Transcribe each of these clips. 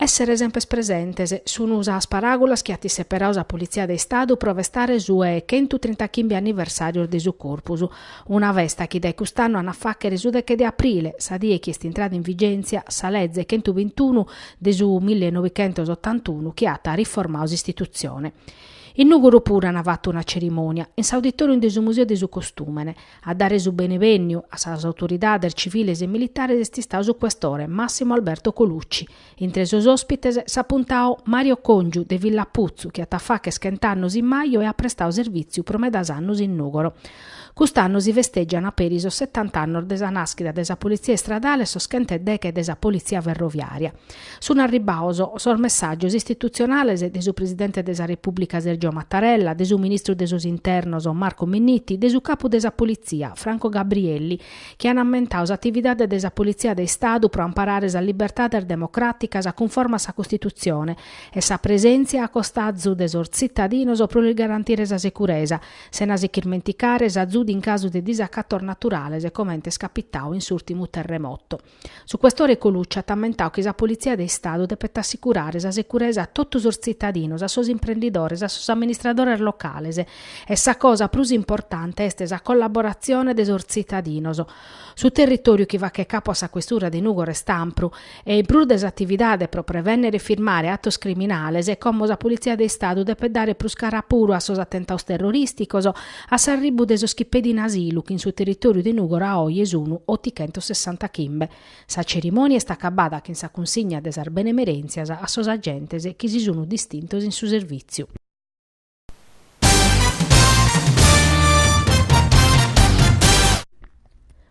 Essere semper presentes, sun sas paràgulas chi at isseperadu sa Politzia de Istadu pro festare sos chentu sessantachimbe anniversàrios de su Corpus, una festa chi dae cust'annu an a fàghere su deche de aprile, sa die chi est intrada in vigèntzia sa leze chentu bintunu de su mille e nobighentos otantunu chi at riformadu s'istitutzione. In Nùgoro puru an fatu una cerimònia, in s'auditòriu de su Museu de su Costùmene. A dare su benevènniu a sas autoridades civiles e militares est istadu su questore Massimo Alberto Colucci. Intre sos òspites s'apuntadu Mario Còngiu de Villaputzu chi at a fàchere chent'annos in maju e at prestadu servìtziu pro medas annos in Nùgoro. Cust'annu si festègian a peri sos setant'annos de sa nàschida de sa Politzia Istradale e sos chentedeghe de sa Politzia Ferroviària. Sunt arribbados sos messàgios istitutzionales de su Presidente de sa Repùblica Sergio Mattarella, de su Ministru de sos Internos Marco Minniti, de su Capu de sa Politzia Franco Gabrielli, chi an ammentadu s'atividade de sa Politzia de Istadu pro amparare sas libertades democràticas cunforma a sa Costitutzione e sa presèntzia a costazu de sos tzitadinos pro lis garantire sa seguresa, sena si ch'irmenticare s'azudu in casu de disacatos naturales comente est capitadu in s'ùrtimu terremoto. Su questore Colucci at ammentadu chi sa Politzia de Istadu depet assicurare sa securesa a totu sos tzitadinos, a sos imprendidores, a sos amministradores locales e sa cosa prus importante est sa collaboratzione de sos tzitadinos. Su territòriu chi faghet capu a sa questura de Nùgoro est ampru e in prus de s'atividade pro prevènnere e firmare atos criminales, como sa Politzia de Istadu depet dare prus cara puru a sos atentados terrorìsticos, A s'arribbu de sos chi pedin asilu chi in su territòriu de Nùgoro a oje sunu otichentossessantachimbe, sa cerimònia est acabada chin sa cunsigna de sas benemerèntzias a sos agentes chi si sunu distintos in su servìtziu.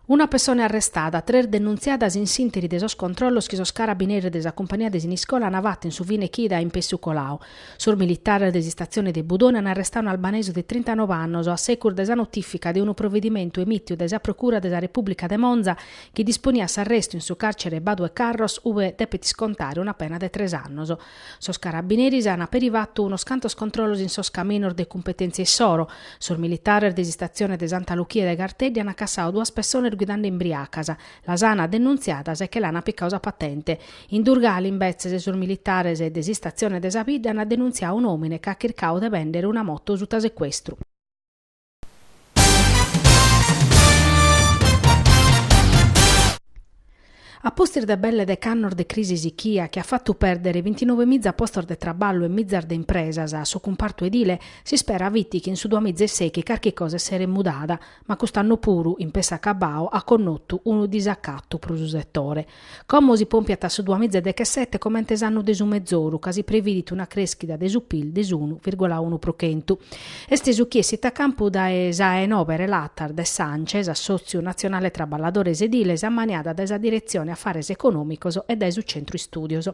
Una pessone arrestada, tres denuntziadas in s'interi de sos controllos chi sos carabineris de sa cumpania de Siniscola an fattu in su fine chida in pessu colau. Sos militares de s'istazione de Budone an arrestau un'albanesu de trintanove annos a segus de sa notifica de unu provedimentu emittiu dae sa Procura de sa Repubblica de Monza chi disponiat s'arrestu in su carcere Badu 'e Carros ue depet iscontare una pena de tres annos. Sos carabineris an peri fatu unos cantos controllos in sos caminos de cumpetèntzia issoro. Sos militares de s'istatzione de Santa Luchia de Garteddi an cassadu duas pessones guidande imbriacas, las an denuntziadas e che lis an picadu sa patente. In Durgali, imbetzes, sos militares de s'istatzione de sa bidda an denuntziadu un'òmine chi at chircadu de bèndere una moto suta secuestru. A pustis de belle dec' annos de crisi sichia chi at fatu pèrdere bintinove miza postos de traballu e mizas de impresas a su cumpartu edile, s'ispera fit chi in su duamiza e sèichi carchi cosa esseret mudada, ma cust'annu puru, in pess'acabau, at connotu unu disacatu pro su setore. Como si pompiat su duamiza e dechesete comente s'annu de su mezoru, ca si previdit una creschida de su pil de s'unu virgola unu pro chentu. Est su chi essit a campu dae sa 'e nobe relatas de s'Ance, s'Assòtziu Natzionale Traballadores Ediles, ammaniada dae sa Diretzione Afares Econòmicos e dae su Centru Istùdios.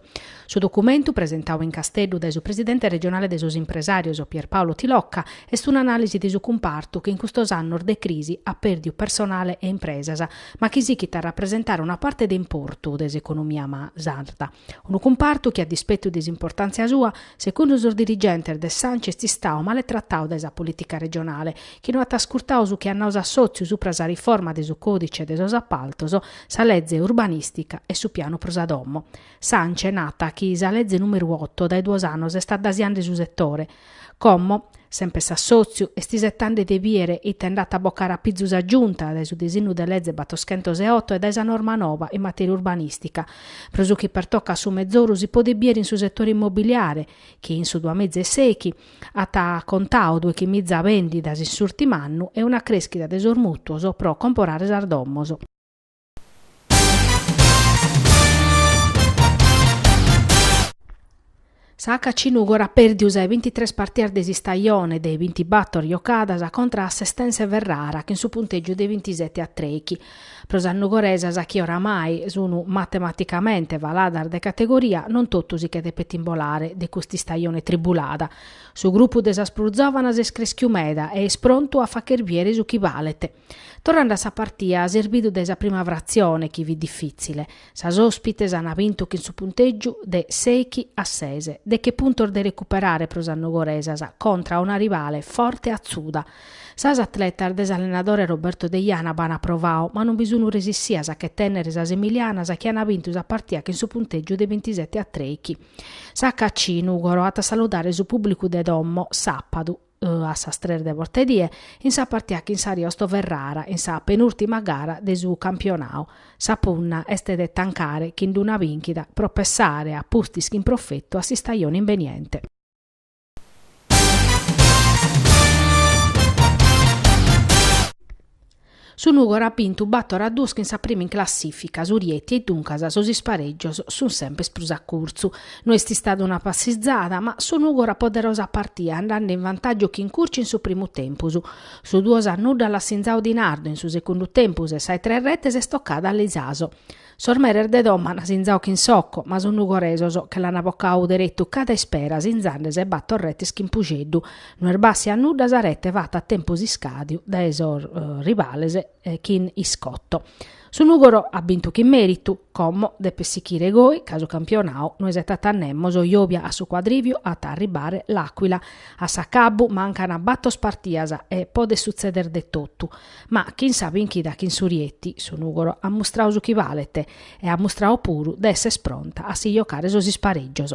Su documentu, presentadu in Casteddu dae su presidente regionale de sos impresàrios Pierpaolo Tilocca, est un'anàlisi de su cumpartu chi in custos annos de crisi at pèrdiu personale e impresas, ma chi sichit a rapresentare una parte de importu de s'economia sarda. Unu cumpartu chi a dispetu de s'importàntzia sua, secundu sos dirigentes de s'Ance est istadu male tratadu dae sa polìtica regionale, chi no at ascurtadu su chi at nau s'assòtziu supra sa riforma de su còdice de sos apaltos, sa leze urbanìstica e su pianu pro sa domo. S'Ance nat chi sa leze nùmeru oto dae duos annos est addasiende su setore, Como, semper s'assòtziu, est isetende de bìdere ite nd'at a bocare a pizu sa Giunta dae su disinnu de leze batoschentos e oto e dae sa norma nova in matèria urbanìstica. Pro su chi pertocat su mezoru si podet bìdere in su setore immobiliare chi in su duamiza e sèichi at contadu dòichi miza bèndidas in s'ùrtimu annu e una crèschida de sos mùtuos pro comporare sas domos. Sa HC Nùgoro at pèrdiu sa 'e bintitres partidas de s'istajone, de bintibator jocadas, contra a s'Estense Ferrara chin su puntègiu de bintisete a trèichi. Pro sas nugoresas chi oramai sun matematicamente faladas de categoria non totu si che depet imbolare de cust'istajone tribulada. Su grupu de sas prus zòvanas est crèschiu meda e est prontu a facher biere su chi balet. Torrende a sa partia, s'est bidu de sa prima fratzione chi fit difìtzile, sas òspites ant bintu chin su puntègiu de sèichi a ses, deche puntos de recuperare pro sas nugoresas contra a una rivale forte e atzuda. Sas atletas de s'allenadore Roberto Deiana b'ant provadu ma non bi sun resissias a che tènnere sas emilianas chi ant bintu sa partia chin su puntègiu de bintisete a trèichi. Sa HC Nùgoro at a saludare su pùblicu de domo sàpadu. a sas tres de bortedie, in sa partia chin s'Ariosto Ferrara in sa penùrtima gara de su campionau. Sa punna est de tancare chin d'una bìnchida pro pessare a pustis chin profetu a s'istajone imbeniente. Su Nùgoro at bintu bàtoro a duos chin sa prima in classìfica, su Rieti, e duncas sos isparègios sunt semper prus a curtzu. No est istada una passizada, ma su Nùgoro at poderau sa partia, andende in vantàgiu chin Curcio in su primu tempus. Su duos a nudda l'at sinzadu Di Nardo in su segundu tempus e sa 'e tres retes est tocada a Lizaso. Sos meres de domo ana sinzau chin Socco, ma sos nugoresos, che l'ana bocau derettu cada ispera sinzande sa 'e battor rettes chin Puxeddu. No est bassia a nudda sa rette fatta a tempus iscadiu dae sos rivales chin Iscotto. Su Nugoro at bintu chin meritu, como depet sichire goi ca su campionau no isetat a nemos, Jobia a su Cuadriviu at a arribbare L'Aquila. A s'acabu mancan battos partias e podet sutzeder de tottu. Ma chin sa binchida chin su Rieti, su Nugoro at mustrau su chi balet e at mustrau puru de esser pronta a si jocare sos isparègios.